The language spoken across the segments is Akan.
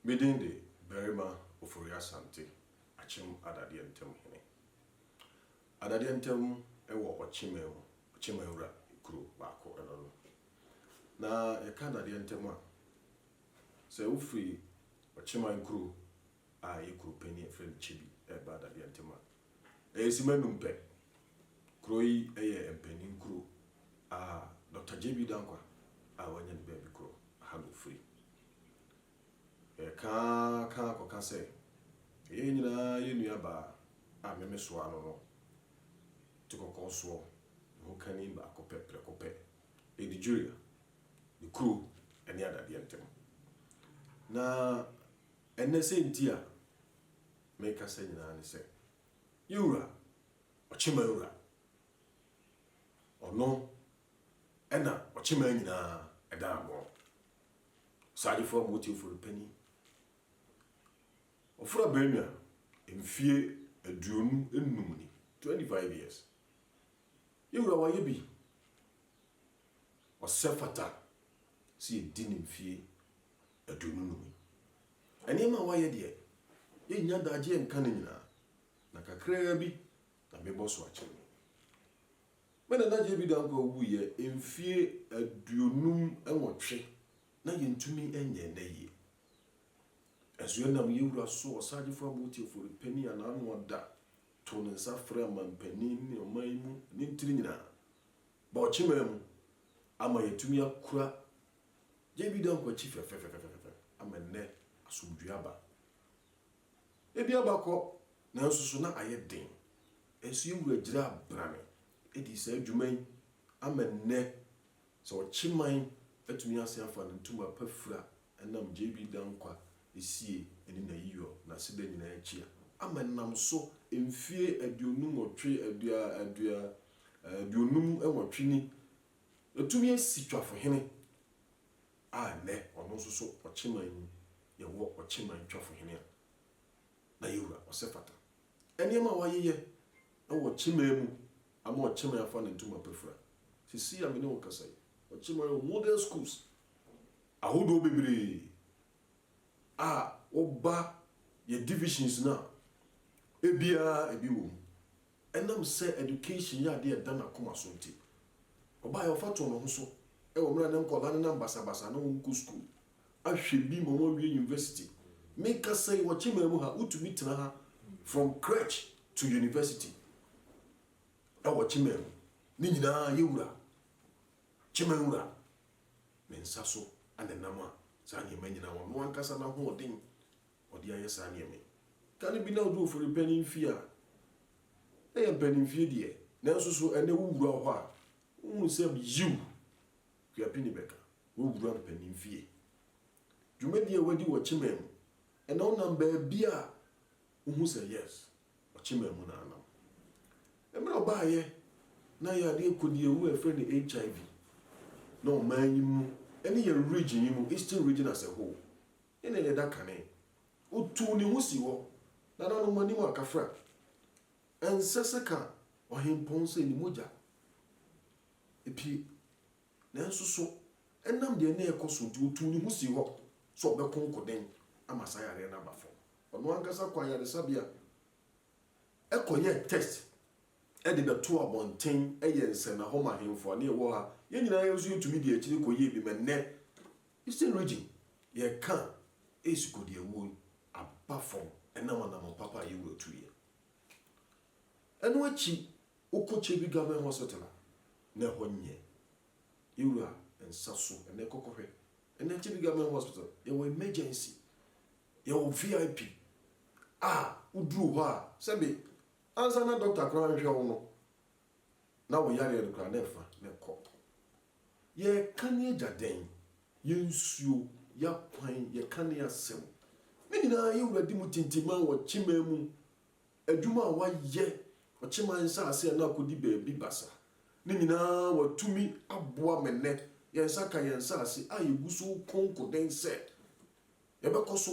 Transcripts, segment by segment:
Me din de Barima Ofori Asante, Akyem Adadeɛ Ntam Hene. Adadeɛ Ntam wɔ Ɔkyeman mu, Ɔkyeman wura kuro baako no no. Na yɛka Adadeɛ Ntam a, sɛ wofiri Ɔkyeman kuro a ɛyɛ kuro panin a yɛfrɛ no Kyebi ɛreba Adadeɛ Ntam a, Ɛyɛ simma num pɛ. Kuro yi yɛ mpanin kuro a Dɔkta JB Danquah a wanya ne baabi korɔ ha na ɔfiri. Yɛka ara ka ara kɔka sɛ yɛn nyinaa yɛ nua baa a meme soɔ ano no te kɔkɔɔ soɔ, ne ho kani baako pɛ, prɛko pɛ, Lady Julia, ne kuro ne adadeɛ ntam. Na ɛnnɛ sɛ nti a Mekasa nyinaa ne sɛ, Yɛ wura, ɔkyemaa wura. Ɔno na ɔkyemaa nyinaa ɛda agorɔ. Ɔsaagyefo a motie fo no panyin. Ɔfra Benua, mfie aduonu nnum ni, 25 years. Yɛ wura wayɛ bi. Ɔsɛ fata sɛ yɛdi ne mfie aduonu no mu. Nneɛma a wayɛ deɛ, yɛnnya adagyeɛ nka ne nyinaa, na kakraa bi na mebɔ so akyerɛ mo. Me nana JB Dankwah wuiɛ mfie aduonum nwɔtwe na yɛntumi nyɛ nna yie. Nso ɛnam yɛn wura so, Ɔsaagyefo Abu Otiaforu Panin a n'ano ada too ne nsa frɛɛ amanpanin ne ɔman yi mu ne ntini nyinaa, bɔɔ kyemaa mu ama yɛatumi akura Gye bi da nkwakyi fɛfɛfɛfɛfɛfɛ ama nnɛ asomdwoe aba. Ebi aba kɔ, nanso so na ayɛ den. Nanso yɛn Wura gyinaa brane dii saa dwuma yi ama nnɛ sɛ ɔkye man atumi asan afa ne ntoma pa fura ɛnam Gye bi da nkwa sie ne n'ayiyɔ, n'aseda nyinaa akyi a ama ɛnam so mfie aduonu nwɔtwe, adua, adua, aduonum nwɔtwe ni. Watumi asi twafohene a nnɛ ɔno nso so ɔkye man mu yɛwɔ ɔkye man twafohene a na yɛ wura Ɔsɛfata. Nneɛma a wayeyɛ wɔ ɔkye man mu ama ɔkye man afa ne ntoma pa fira. Seesei a me ne wo kasa yi, ɔkye man wɔ modern schools ahodoɔ bebree a woba yɛ divisions no a, ebiara ebi wɔ mu. Ɛnam sɛ education yɛ ade a ɛda n'akoma so nti, ɔbaa a ɔfa too ne ho so wɔ mmerɛ a na nkwadaa nenam basabasa na wɔn kɔ sukuu ahwɛ bi ma wɔn awie university. Me kasa yi wɔ Kyemar mu ha, wotumi tena ha from crèche to university wɔ Kyemar mu. Ne nyinaa yɛ wura, Kyemar wura ne nsa so na ɛnam a saa nneɛma nyinaa ɔno ankasa n'ahoɔden. Ɔde ayɛ saa nneɛma yi. Da no bi na odu ofori panyin fie a, na ɛyɛ mpanimfie deɛ, nanso so ɛnnɛ wowura hɔ a, wohu sɛ yiw, Kuapini bɛka, woawura mpanin fie. Dwumadi a wadi wɔ Kyemaa mu, ɛnna wonam baabi a, wohu sɛ yes, Ɔkyemaa mu na anam. Mmerɛ a ɔbaeɛ, na yadeɛ kɔdie mu a yɛfrɛ no HIV, na ɔman yi mu, ɛne yɛn region yi mu, Eastern Region as a whole, Ena ɛnyɛ da kane. Otuu ne ho sii hɔ, nananom anim a kafra. Ɛnsɛ sɛ ka ɔhempɔn sɛ ne mogya pue. Nanso so ɛnam deɛ na ɛrekɔ so nti otuu ne ho sii hɔ sɛ ɔbɛko nkoden ama saa yareɛ no aba fam? Ɔno ankasa kɔ ayaresabea kɔyɛɛ test de bɛtoo abɔnten yɛ nsɛnnahoma ahemfo a na yɛwɔ ha. Yɛn nyinaa nso yɛtumi dii akyire kɔyɛɛ bi ma ɛnnɛ. Eastern Region, Yɛka Ace Kodiawuo yi aba fam ɛnam anammɔn papa a Yewura tuiɛ. Ɛno akyi wokɔ Kyebi Government Hospital a, na ɛhɔ nyɛ Yewura nsa so. Ɛnnɛ kɔkɔhwɛ. Ɛnnɛ Kyebi Government Hospital, yɛwɔ Emergency, yɛwɔ VIP a woduru hɔ a, sɛbe ansa na Doctor koraa nhwɛ wo no, na wo yareɛ no koraa na ɛfa na ɛkɔ. Yɛreka ne agya dɛn? Yɛn nsuo, yɛn akwan, yɛka ne asɛm. Ne nyinaa yɛ wura di mu tintiman wɔ kyeman mu. Adwuma a wayɛ wɔ kyeman nsaase a na akɔdi baabi basa no nyinaa watumi aboa me nnɛ. Yɛn nsa ka yɛn nsaase a yɛgu so reko nkoden sɛ yɛbɛkɔ so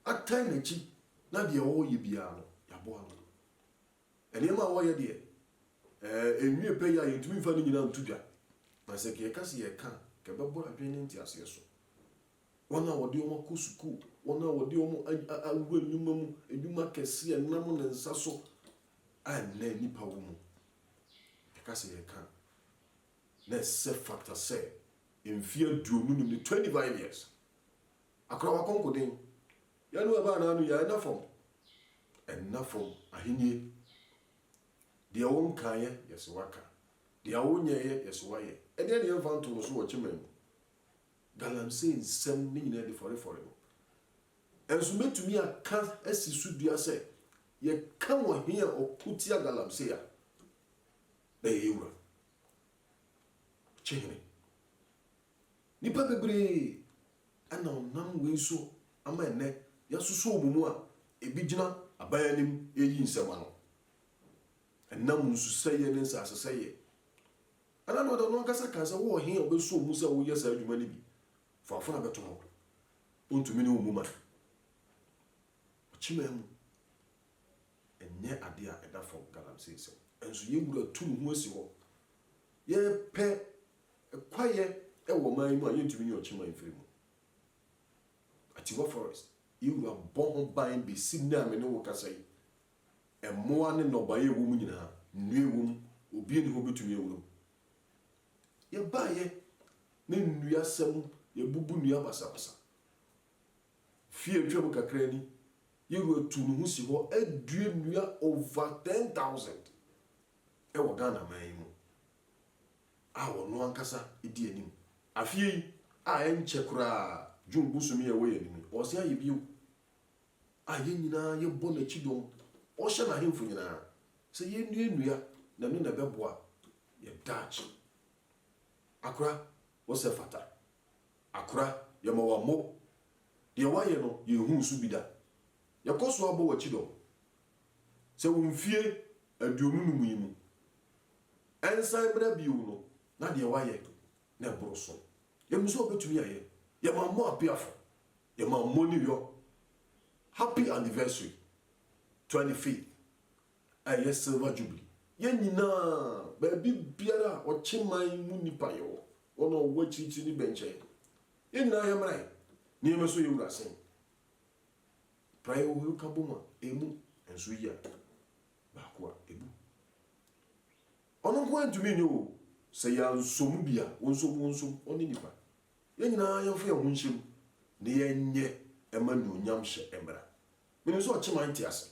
atan n'akyi na deɛ ɛwɔ hɔ yɛ biara no, yɛaboa no. Nneɛma a wɔyɛ deɛ, eh, ɛnwie pɛ yi a yɛntumi mfa ne nyinaa nto dwa. Na sɛ nka yɛka sɛ yɛreka a, nka ɛbɛboro adwene ne nteaseɛ so. Wɔn a wɔde wɔn akɔ sukuu, wɔn a wɔde wɔn a, a, awura nnwuma mu, nnwuma kɛseɛ, ɛnam ne nsa so, a ɛnnɛ nnipa wɔ mu. Yɛka sɛ yɛreka a, na ɛsɛ fata sɛ mfeɛ aduonu nim ne 25 years. Akora wakɔnkoden, Yɛn wɔ baa n'ano yɛn nna fam nna fam ahennie Deɛ wo nkaeɛ yɛ se w'aka Deɛ wo nyɛeɛ yɛ se w'ayɛ Ɛdeɛ ne yɛn mfa nto no so wɔ kyeman mu Galamsey nsɛm ne nyinaa di fɔre fɔre no Ɛnso mɛtumi aka asi so dua sɛ Yɛ ka wɔ he a ɔko tia galamsey a na yɛyɛ wura Kyehene. Nnipa bebree na wɔnam wei so ama ɛnnɛ yɛasosɔ wɔn mu a ebi gyina aban anim reyi nsɛm ano. Ɛnam nsusɛeɛ ne nsasesɛeɛ. Landlord no ankasa ka sɛ wowɔ he a wobɛsɔ wo mu sɛ woyɛ saa adwuma no bi? Fa afena bɛto hɔ. Wontumi ne wo mmu man. Ɔkyemaa mu. Ɛnyɛ adeɛ a ɛda fam galamsey sɛm. Nso yɛn wura tu ne ho asi hɔ. Yɛpɛ Kwaeɛ wɔ ɔman yi mu a yɛntumi nyi ɔkyeman mfiri mu. Atiwa Forest, yɛn wura bɔ ho ban bɛsi nnɛ a me ne wo kasa yi. Mmoa ne nnɔbaeɛ a ɛwɔ mu nyinaa, nnua a ɛwɔ mu, obiara nni hɔ a ɔbɛtumi awura mu. Yɛbaeɛ ne nnuasɛm, yɛabubu nnua basabasa. Mfeɛ a atwam kakra ni, yɛn wura tuu ne ho si hɔ adua nnua over ten thousand wɔ Ghana man yi mu. a ɔno ankasa di anim. Afeɛ yi a ɛnkyɛ koraa June bosome yi a ɛwɔ yɛn anim yi, ɔresen ayɛ bio a yɛn nyinaa yɛbɔ n'akyi dɔm. Ɔhyɛ n'ahemfo nyinaa sɛ yɛnnuannua na ɛno na ɛbɛboa yɛn daakye. Akora, wo sɛ fata. Akora, yɛma w'ammo. Deɛ woayɛ no, yɛnhuu so bi da. Yɛkɔ so ara bɔ w'akyi dɔm. Sɛ wo mfie aduonu num yi mu ɛnsan mmra bio no, na deɛ woayɛ no na ɛboro so. Yɛnim sɛ wobɛtumi ayɛ. Yɛma mo apeafo, yɛma mo New York happy anniversary, twenty fifth, ɛyɛ silver jubilee. Yɛn nyinaa, baabi biara a ɔkyeman mu nnipa yɛ wɔ, wɔn a wɔwɔ akyirikyiri ne bɛnkyɛn no, yɛn nyinaa yɛmmra yɛn nneɛma so yɛwura ase. Praeɛ wo hunu ka bom a, ɛmu nso yea baako a, ɛbu. Ɔno nko ara ntumi nyɛ o, sɛ yɛansom bi a, wo nso wonsom, ɔne nnipa. Yɛn nyinaa yɛmfa yɛn ho nhyɛ mu na yɛnyɛ ɛma anuonyamhyɛ mmra. Menim sɛ ɔkyeman te ase.